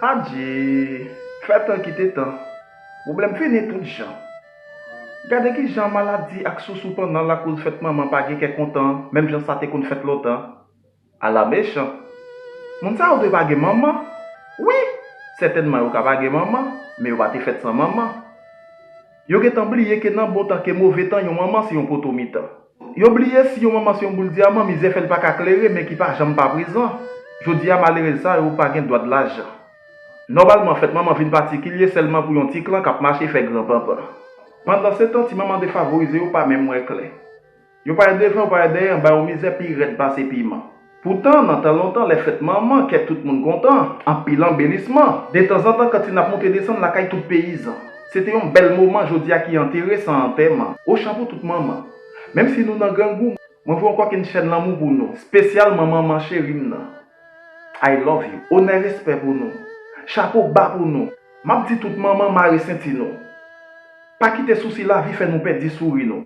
Adje! Fè tan kite tan. Pwoblèm fini tout jan. Gade ki jan maladi ak sousou pandan lakoz fèt manman pa gen kè kontan menm jan sa te konn fèt lontan. Ala mechan! Moun sa yo dwe pa gen manman. Wi! Sètènman yo ka pa gen manman, men yo pa te fèt san manman. Yo gen tan bliye ke nan bon tan ke move tan yon manman se yon poto mitan. Yo bliye si yon manman se yon boul dyaman mizè fè l pa ka klere men ki pa janm pa prezan. Jodi a malerèz sa yo pa gen dwa de lajan. Nòmalman fèt manman vin patikilye sèlman pou yon ti klan k ap mache fè gran panpan. Pandansetan ti manman defavorize yo pa menm wè klè. Yo pa wè devan yo pa wè dèyè anba yo mizè pi rèd pase piman. Poutan, nan tan lontan, lè fèt manman, kè tout moun kontan, anpil anbelisman. Detanzantan kantin ap monte desann lakay tout peyizan. Se te yon bèl moman jodi a ki antere san antèman. Ochan pou tout manman. Menm si nou nan grangou, mwen voye yon kòkenn chèn lanmou pou nou, spesyalman manman cheri m nan. I love you. Onè respè pou nou. Chapo ba pou nou. M ap di tout manman mare senti nou. Pa kite sousi lavi fè nou pèdi souri nou.